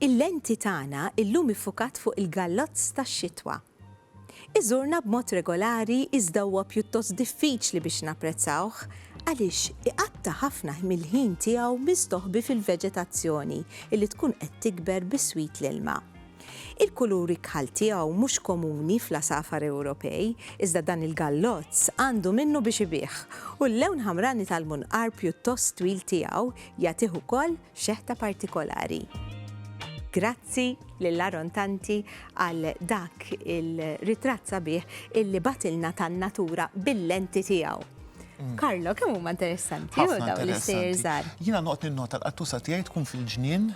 Il-lenti tagħna llum iffukat fuq il-gallozz tax-xitwa. Iżurna b'mod regolari iżda huwa pjuttost diffiċli biex napprezzawh għaliex iqatta' ħafna mill-ħin tiegħu mistoħbi fil-veġetazzjoni li tkun qed tikber biswit l-ilma. Il-kuluri kħal tiegħu mhux komuni fl-għasafar Ewropej, iżda dan il-gallozz għandu minnu biex ibigħ, u l-lewn ħamrani tal-munqar pjuttost twil tiegħu jagħtih ukoll xeħta partikolari. Grazzi lil Aaron Tanti għal dak il-ritratt sabiħ illi bagħtilna tan-natura bil-lenti tiegħu. Mm. Karlo, kemm huma interessanti u dawn l-istejjer żgħar. Jiena noqgħod ninnota l-qattusa tiegħi tkun fil-ġnien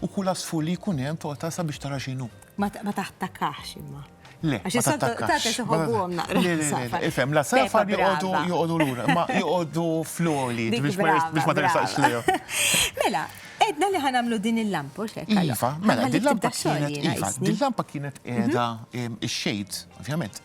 U kull għasfur li jkun hemm toqta sabiex tara x'inhu. Ma taħtakax imma. Le, ma taħtakax. Ifhem, la safar joqogħdu joqogħdu lura, ma joqogħdu floli biex ma tersaqx lejhom. Mela, edna li ħanamlu din il-lampa xek. Iva, mela din lampa kienet iva, din lampa kienet qiegħda ix-xejt, ovvjament,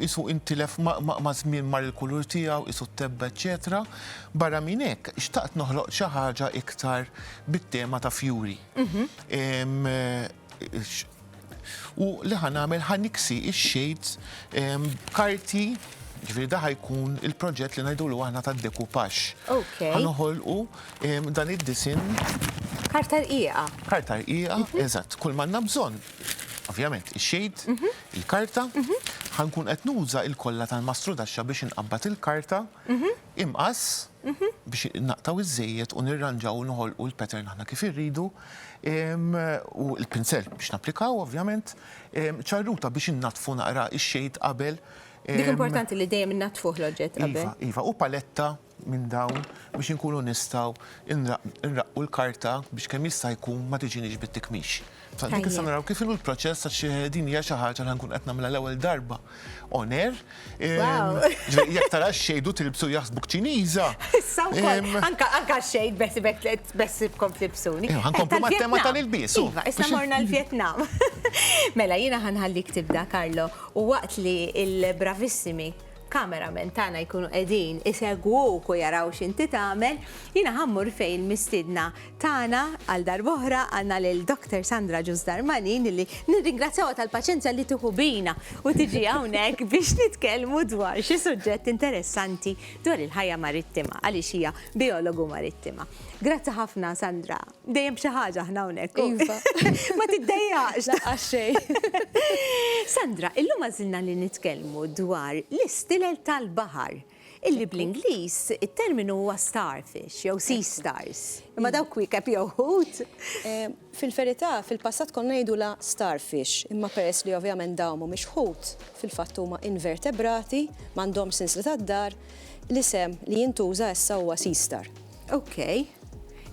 qisu intilef maż-żmien mar il-kulur tiegħu, qisu ttebba eċċetera. Barra minn hekk, xtaqt noħloq xi ħaġa iktar bit-tema ta' fjuri. U li ħa nagħmel ħa niksi x-shades b'karti Ġifieri daħ jkun il-proġett li ngħidulu aħna ta' dekupax. Ħa noħolqu dan id-disin. Karta rqiqa. Karta rqiqa, mhm. eżatt, kull manna bżonn. Ovvjament, ix-xejt, mhm. il-karta, ħa nkun qed nuża il-kolla tal-mastrudaxxa biex inqabbad il-karta, imqass, biex naqtgħu iż-żejjed u nirranġaw u noħolqu l-pattern aħna kif irridu, u l-pinsell biex napplikaw ovvjament, ċarruta biex innaddfu naqra x-shade qabel. Dik importanti li dejjem innaddfuh l-oġġett qabel. Iva, iva, u paletta minn dawn biex inkunu nistgħu nraqqu l-karta biex kemm jista' jkun ma tiġiniex bit-tikmix. Dik issa naraw kif inhu l-proċess għax din hija xi ħaġa li ħankun qed nagħmilha l-ewwel darba on air. Jekk tara x-xejn u tilbsu jaħsbuk Ċiniża. Issa wkoll, anke għax-xejn beħsibek beħsibkom tlibsuni. Ħankomplu mat-tema tal-ilbies. Iva, issa morna l-Vjetnam. Mela jiena ħanħallik tibda Carlo u waqt li l-bravissimi cameramen tagħna jkunu qegħdin isegwuk u jaraw x'inti tagħmel, jiena ħa mmur fejn il-mistiedna tagħna għal darb'oħra, għandna lil Doctor Sandra Ġus Darmanin illi nirringrazzjawha tal-paċenzja li tieħu bina u tiġi hawnhekk biex nitkellmu dwar xi suġġett interessanti dwar il-ħajja marittima għaliex hija bijologu marittima. Grazzi ħafna Sandra. Dejjem b'xi ħaġa aħna hawnhekk. Iva. Ma tiddejjaqx. Laqqas xejn. Sandra, illum għażilna li nitkellmu dwar l-istilel tal-baħar, illi bl-Ingliż it-terminu huwa starfish jew sea stars. Imma dawk kwiekeb jew ħut? Fil-verità, fil-passat konna ngħidulha starfish, imma peress li ovvjament dawn mhumiex ħut, fil-fatt huma invertebrati, m'għandhomx sinsla tad-daħar, l-isem li jintuża issa huwa sea star. Ok,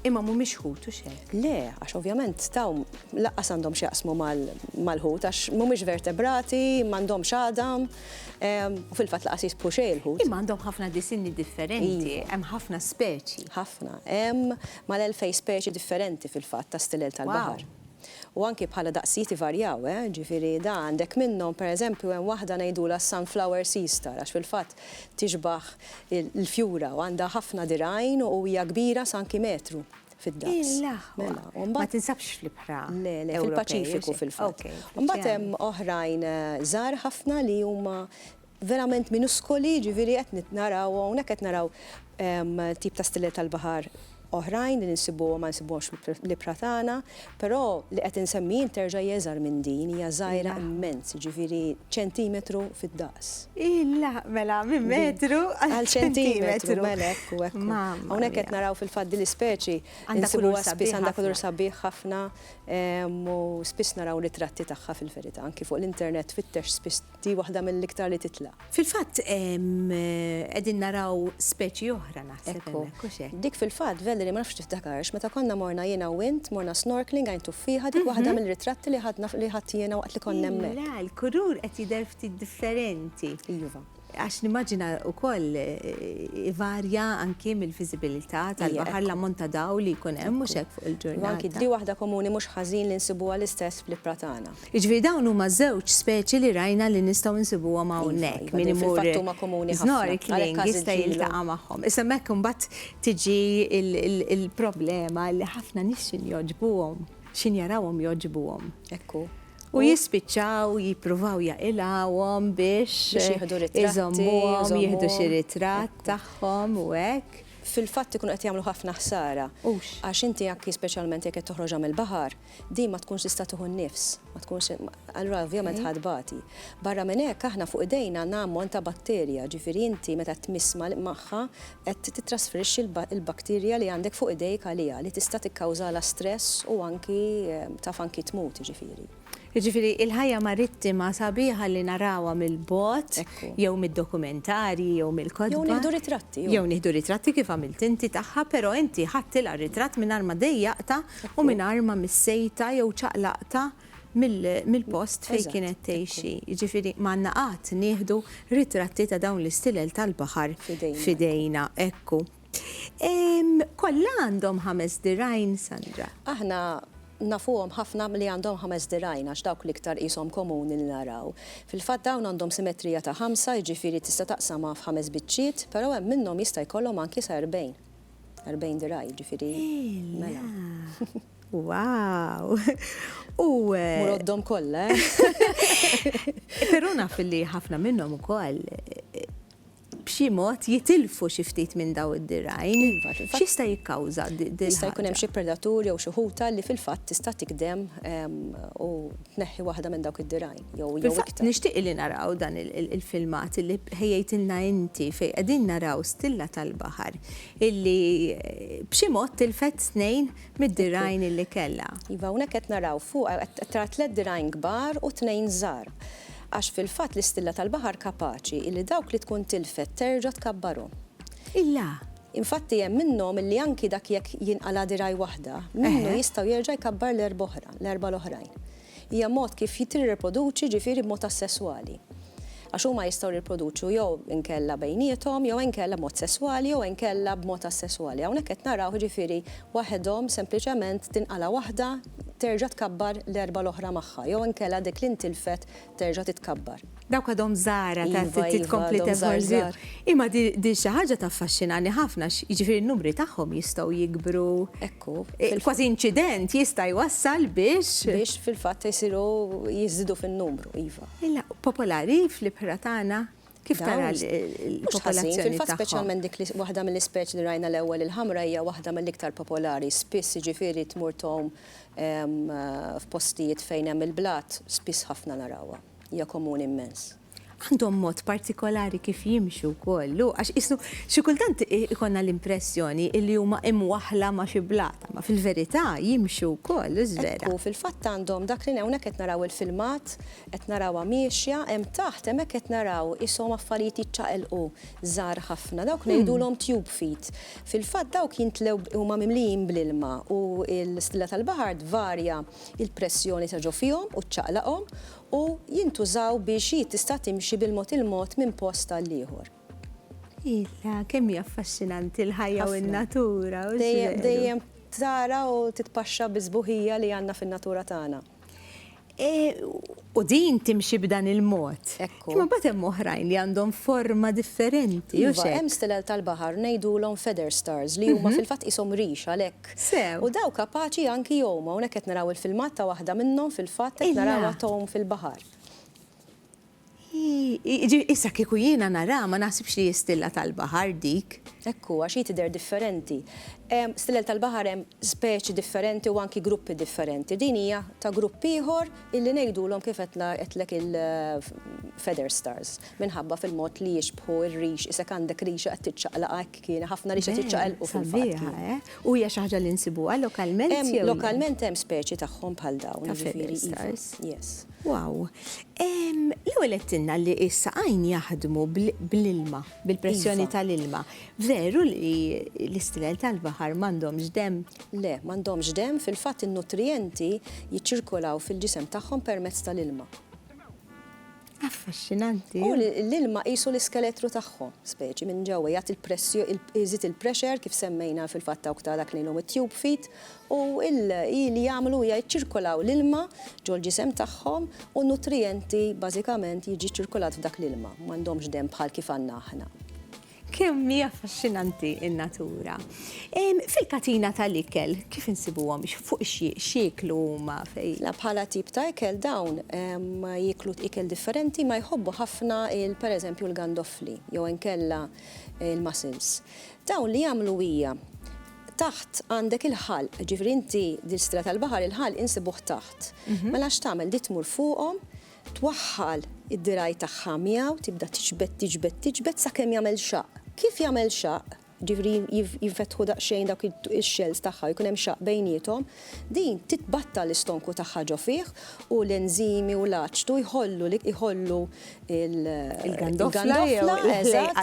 imma mhumiex ħut u xek. Le, għax ovvjament taw laqqas għandhom x'jaqsmu mal-ħut, għax mhumiex vertebrati, m'għandhom xadam, ehm, u fil-fatt laqqas jisbħu xejn il-ħut. Imma għandhom ħafna disinni differenti, iva. hemm ħafna speċi. Ħafna, hemm mal-elfej speċi differenti fil-fatt ta' stilel tal-baħar. U anki bħala daqsijiet varjaw, eh? ġifiri da għandek minnhom, per eżempju, hemm waħda ngħidula sunflower sea star, għax fil-fatt Tixbah il-fjura u għandha ħafna dirgħajn u hija kbira sa anki metru fid-daqs. Mela, u mbagħad. Ma tinsabx fl-ibħra. Le, le, fil-Paċifiku fil-fatt. U mbagħad hemm oħrajn żgħar ħafna li huma verament minuskoli, jiġifieri qed naraw hawnhekk qed naraw tip ta' stiller tal-baħar. oħrajn li nsibuhom ma nsibuhomx fl-ibħra tagħna, però li qed insemmi jien terġa' hi iżgħar minn din, hija żgħira immens, jiġifieri ċentimetru fid-daqs. Illa, mela minn metru għal ċentimetru. Mela hekk u hekk. Hawnhekk qed naraw fil-fatt din l-ispeċi nsibuha spiss għandha kulur sabiħ ħafna u spiss naraw ritratti tagħha fil-verità, anki fuq l-internet tfittex spiss Di waħda mill-iktar li titla'. Fil-fatt qegħdin naraw speċi oħra naħseb hemmhekk, hux hekk? Dik fil-fatt, Valerie, ma nafx tiftakarx, meta konna morna jiena u int, morna snorkeling għajn tuffieħa, dik waħda mill-ritratti li ħadna li ħadt jiena waqt li konna hemmhekk. Le, l-kulur qed jidher ftit differenti. Iva. Għax nimmaġina wkoll ivarja anki mill-viżibilità tal-baħar l-ammont ta' dawl li jkun hemm mhux hekk fuq il-ġurnata. Anki di waħda komuni mhux ħażin li nsibuha l-istess fl-ibħra tagħna. Jiġifieri dawn huma żewġ speċi li rajna li nistgħu nsibuhom hawnhekk. Min imur snorkeling jista' jiltaqa' magħhom. Issa hemmhekk imbagħad tiġi l-problema li ħafna nies x'inhi jogħġbuhom, x'inhi jarawhom jogħġbuhom. Hekk hu. U jispiċċaw jippruvaw jaqilgħuhom biex iżommuhom, jieħdu xi ritratt tagħhom u hekk. Fil-fatt ikunu qed jagħmlu ħafna ħsara. Hux. Għax inti anki speċjalment jekk qed toħroġha mill-baħar. Din ma tkunx tista' tieħu n-nifs, ma tkunx allura ovvjament ħa tbati. Barra minn hekk aħna fuq idejna għandna ammont ta' batterja, ġifieri inti meta tmiss magħha qed tittrasferixxi l-bakterja li għandek fuq idejk għaliha li tista' tikkawżalha stress u anki taf anki tmut jiġifieri. Jiġifieri il-ħajja marittima sabiħa li narawha mill-bogħod jew mid-dokumentarji jew mill-kotba. Jew nieħdu ritratti. Jew nieħdu ritratti kif għamilt inti tagħha, però inti ħadtilha ritratt mingħajr ma dejjaqtha u mingħajr ma missejtha jew ċaqlaqtha mill-post fejn kienet tgħixi. Jiġifieri ma għandna qatt nieħdu ritratti ta' dawn l-istilel tal-baħar f'idejna. Ekku. Kollha għandhom ħames dirgħajn, Sandra? Aħna nafuhom ħafna li għandhom ħames dirgħajn għax dawk l-iktar qishom komuni li naraw. Fil-fatt dawn għandhom simetrija ta' ħamsa, jiġifieri tista' taqsamha f'ħames biċċiet, però hemm minnhom jista' jkollhom anki sa erbgħin. 40 diraj, ġifiri. Mela. Wow! U. Eh, Muroddom kollha. Eh? Però naf li ħafna minnhom ukoll eh, b'xi mod jitilfu xi ftit minn daw id-dirajn. Iva, X'jista' jikkawża Jista' jkun hemm xi predatur jew xi ħuta li fil-fatt tista' tikdem ehm, u tneħħi waħda minn dawk id-dirajn. jew jew iktar. Nixtieq illi naraw dan il-filmat illi ħejjejtilna inti fejn qegħdin naraw stilla tal-baħar illi b'xi mod tilfet tnejn mid-dirgħajn illi kellha. Iva, hawnhekk qed naraw fuqha qed tara tliet dirgħajn kbar u tnejn żgħar. Għax fil-fatt l-istilla tal-baħar kapaċi illi dawk li tkun tilfet terġa' tkabbarhom. Illa! Infatti hemm minnhom illi anki dak jekk jinqala' dirgħaj waħda, minnu jistgħu jerġa' jkabbar l-erba' oħra, l-erba' l-oħrajn. Hija mod kif tirriproduċi, ġifieri b'mod assesswali. Għax huma jistgħu jirriproduċu jew inkella bejniethom, jew inkella b'mod sesswali, jew inkella b'mod assesswali. Hawnhekk qed naraw, ġifieri, waħedhom sempliċement tinqala' waħda terġa' tkabbar l-erbgħa l-oħra magħha, jew inkella dik li ntilfet terġa' titkabbar. Dawk għadhom żgħar għad trid tkompli tevolvi. Imma din xi ħaġa taffaxxinani ħafna għax jiġifieri n-numri tagħhom jistgħu jikbru. Ekku. Kważi inċident jista' jwassal biex. Biex fil-fatt isiru jiżdiedu fin-numru, iva. Illa, popolari fl-ibħra tagħna kif tara l-popolazzjoni tagħhom? Fil-fatt speċjalment dik waħda mill-ispeċi li rajna l-ewwel il-ħamra hija waħda mill-iktar popolari. Spiss jiġifieri tmur tgħum f'postijiet fejn hemm il-blat, spiss ħafna narawha. hija komuni immens. Għandhom mod partikolari kif jimxu wkoll, hu, għax qisu xi kultant ikollna l-impressjoni illi huma imwaħħla ma' xi blat, imma fil-verità jimxu wkoll, hux vera? Hekk hu, fil-fatt għandhom dak li hawnhekk qed naraw il-filmat, qed narawha miexja, hemm taħt hemmhekk qed naraw ishom affarijiet jiċċaqelqu żgħar ħafna, dawk ngħidulhom tube feet. Fil-fatt dawk jimtlew, huma mimlijin bl-ilma u l-stilla tal-baħar tvarja il-pressjoni ta' ġo fihom u ċċaqlaqhom u jintużaw biex hi tista' timxi bil-mod il-mod minn post għall-ieħor. Illa, kemm hi affaxxinanti l-ħajja u n-natura! Dejjem, dejjem tara u titpaxxa bis-sbuħija li għandna fin-natura tagħna. U din timxi b'dan il-mod. Hekk hu. Imma mbagħad hemm oħrajn li għandhom forma differenti, hux hekk? Iva, hemm stilel tal-baħar ngħidulhom feather stars li huma fil-fatt qishom rix għalhekk. Sew. U dawn kapaċi anki jgħumu, hawnhekk qed naraw il-filmat ta' waħda minnhom fil-fatt qed narawha tgħum fil-baħar. Hi, issa kieku jiena naraha ma naħsibx li hi stilla tal-baħar dik. Hekk hu, għax hi tidher differenti. Stilel tal-baħar hemm speċi differenti u anki gruppi differenti. Din hija ta' grupp ieħor. Illi ngħidulhom kif qed ngħid qedtlek il feather stars minħabba fil-mod li jixbħu r-rix isek għandek rixa qed tiċċaqlaq hekk kien haħfna rixa tiċċaqelqu fil-fatt. Sabiħa eh? U hija xi ħaġa li nsibuha lokalment jew le? Lokalment hemm speċi tagħhom bħal dawn. Ta' feather stars. Yes. Wow. L-ewwel qedtilna li s-saqajn jaħdmu bl-ilma. bil-pressjoni tal-ilma. Veru li l-istilel tal-baħar m'għandhomx demm? Le, m'għandhomx demm, fil-fatt in-nutrijenti jiċċirkolaw fil-ġisem tagħhom permezz tal-ilma. Affaxxinanti! U l-ilma qisu l-iskeletru tagħhom, speċi, minn ġewwa, jagħti l-pressjo, iżid il-pressure kif semmejna fil-fatt dawk ta' dak li ilhom it-tube feet, u l-i li jagħmlu hija jiċċirkolaw l-ilma ġol-ġisem tagħhom u n-nutrijenti bażikament jiġi ċċirkolat f'dak l-ilma, m'għandhomx demm bħal kif għandna aħna. Kemm hi affaxxinanti n-natura! Fil-katina tal-ikel kif insibuhom, fuq x'jieklu huma? La bħala tip ta' ikel dawn jieklu ikel differenti ma jħobbu ħafna pereżempju l-gandoffli jew inkella l-mussels. Dawn li jagħmlu hija taħt għandek il-ħalq, ġifieri inti dil-stra tal-baħar il-ħalq insibuh taħt. Mhm. Mela x'tagħmel di tmur fuqhom, twaħħal id-diraj tagħha miegħu, tibda tiġbed, tiġbed, tiġbed sakemm jagħmel xaq. Kif jagħmel xaq, ġifieri jinfetħu daqsxejn dawk ix-xells tagħha jkun hemm xaq bejniethom, Din titbattal l-istonku tagħha ġo fih u l-enżimi u l-aċtu jħollu li jħollu il-gandofla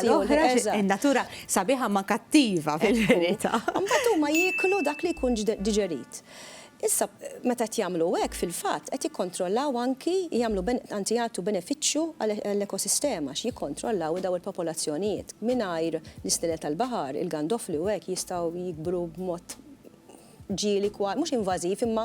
l-oħra natura sabiħa ma kattiva fil-verità. Mbagħad huma jieklu dak li jkun diġerit. Issa meta qed jagħmlu hekk fil-fatt qed jikkontrollaw anki jagħmlu anzi jagħtu benefiċċju għall-ekosistema għax jikkontrollaw dawn il-popolazzjonijiet. Mingħajr l-isnilel tal-baħar, il-gandofli u hekk jistgħu jikbru b'mod ġieli kwa, mhux invażiv, imma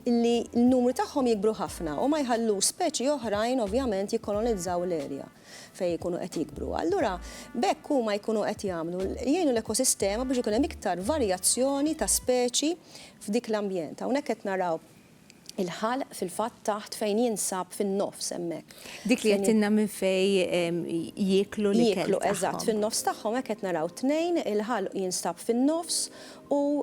li n-numri tagħhom jikbru ħafna u ma jħallux speċi oħrajn ovvjament jikkolonizzaw l-erja fejn ikunu qed jikbru. Allura b'hekk huma jkunu qed jagħmlu, jgħinu l-ekosistema biex ikun hemm iktar varjazzjoni ta' speċi f'dik l-ambjent. Hawnhekk qed naraw Il-ħalq fil-fatt taħt fejn jinsab fin-nofs hemmhekk. Dik li għedtilna minn fejn jieklu l-ikel tagħhom. Jieklu, eżatt, fin-nofs tagħhom hekk qed naraw tnejn, il-ħalq jinstab fin-nofs u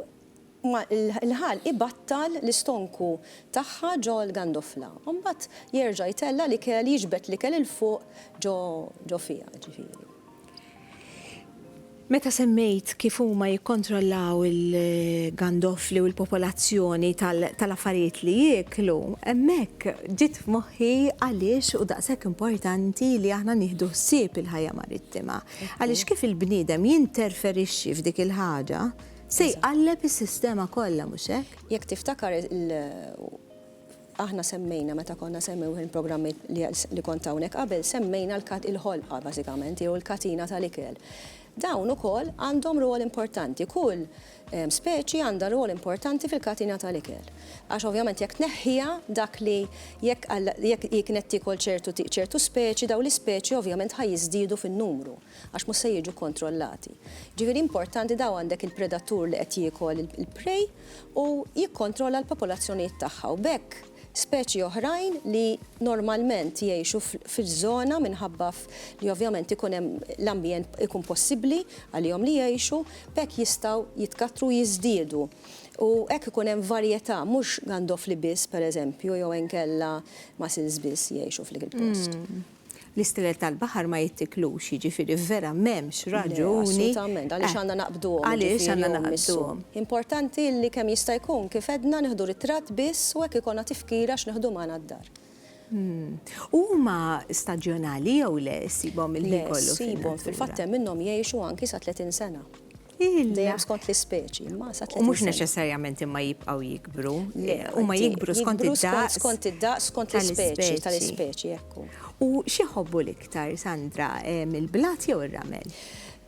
l-ħalq ibattal l-istonku tagħha ġo l-gandofla. U mbagħad jerġa' jtella' l-ikel, jiġbed l-ikel 'il fuq ġo fiha, ġifieri. Meta semmejt kif huma jikkontrollaw il-gandoffli u l-popolazzjoni tal-affarijiet li jieklu, hemmhekk ġiet f'moħħi għaliex hu daqshekk importanti li aħna nieħdu ħsieb il-ħajja marittima. Għaliex kif il-bniedem jinterferixxi f'dik il-ħaġa, se jqalleb is-sistema kollha, mhux hekk? Jekk tiftakar, Aħna semmejna meta konna semmewh il-programmi li kont hawnhekk qabel, semmejna l-ħolqa bażikament jew il-katina tal-ikel. Dawn ukoll għandhom rwol importanti. Kull speċi għandha rwol importanti fil-katina tal-ikel. Għax ovvjament jekk tneħħiha dak li jekk hi kienet tiekol ċertu speċi, dawn l-ispeċi ovvjament ħa jiżdiedu fin-numru. għax mhux se jiġu kontrollati. Ġifieri importanti daw għandek il-predatur li qed jiekol il-prey u jikkontrolla l-popolazzjonijiet tagħha u b'hekk speċi oħrajn li normalment jgħixu fiż-żona minħabba li ovvjament ikun hemm l-ambjent ikun possibbli għalihom li jgħixu b'hekk jistgħu jitkattru u jiżdiedu. U hekk ikun hemm varjetà mhux gandofli biss pereżempju jew inkella mussels biss jgħixu f'lik il-post. L-istilel tal-baħar ma jittiklux, jiġifieri vera m'hemmx raġuni. Le, assolutament, għaliex għandna naqbduhom, għaliex għandna naqbduhom. Importanti li kemm jista' jkun, kif għedna, nieħdu ritratt biss u hekk ikollna tifkira x'nieħdu magħna d-dar. U huma staġjonali jew le, issibhom il-ħin kollu fin-natura? Le, ssibhom, fil-fatt hemm minnhom jgħixu anki sa 30 sena. Dejjem skont l-ispeċi, ma sa 30 sena. U mhux neċessarjament imma jibqgħu jikbru. Huma jikbru skont id-daqs. Skont id-daqs, skont l-ispeċi tal-ispeċi, ekku. U xi jħobbu l-iktar, Sandra, il-blat jew ir-ramel?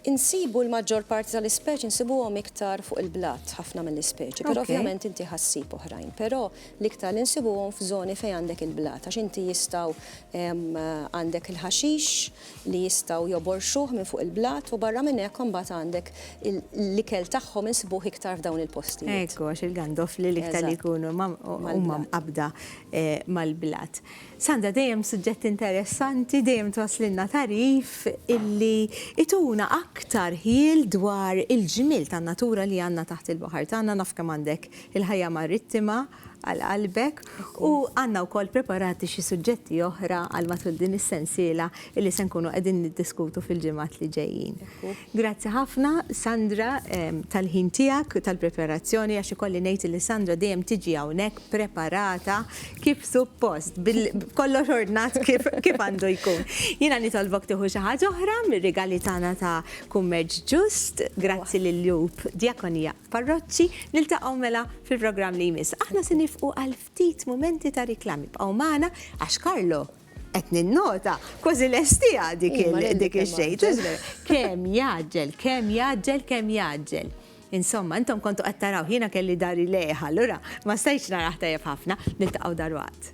Insibu l-maġġor parti tal-ispeċi nsibuhom iktar fuq il-blat ħafna mill-ispeċi, però ovvjament inti ħa ssib oħrajn. Però l-iktar li nsibuhom f'żoni fejn għandek il-blat għax inti jistgħu għandek il-ħaxix, li jistgħu joborxuh minn fuq il-blat u barra minn hekk imbagħad għandek l-ikel tagħhom insibuh iktar f'dawn il-postijiet. Ekku għax il-gandofli l-iktar li jkunu huma mqabbda mal-blat. Sandra dejjem suġġett interessanti, dejjem twasslilna tagħrif illi ituna aktar ħjiel dwar il-ġmiel tan-natura li għandna taħt il-baħar tagħna, naf kemm għandek il-ħajja marittima, għal qalbek u għandna wkoll preparati xi suġġetti oħra għal matul din is-sensiela li se nkunu qegħdin niddiskutu fil-ġimgħat li ġejjin. Grazzi ħafna Sandra ehm, tal-ħin tiegħek, tal-preparazzjoni għax ikolli ngħid li Sandra dejjem tiġi hawnhekk preparata kif suppost, kollox ordnat kif għandu jkun. Jiena nitolbok tieħu xi ħaġa oħra mir-rigali tagħna ta' kummerġ ġust, grazzi lil Jub Diakonia. Parroċċi, niltaqgħu mela fil-programm li jmiss. Aħna se nifqu għal ftit mumenti ta' riklam. Ibqgħu magħna għax Karlo qed ninnota kważi lestija dik dik ix-xejt. Kemm jaġġel, kemm jaġġel, kemm jaġġel. Insomma, intom kontu qed taraw jiena kelli dari lejha, allura ma stajtx naraħ tajjeb ħafna, niltaqgħu darwaqt.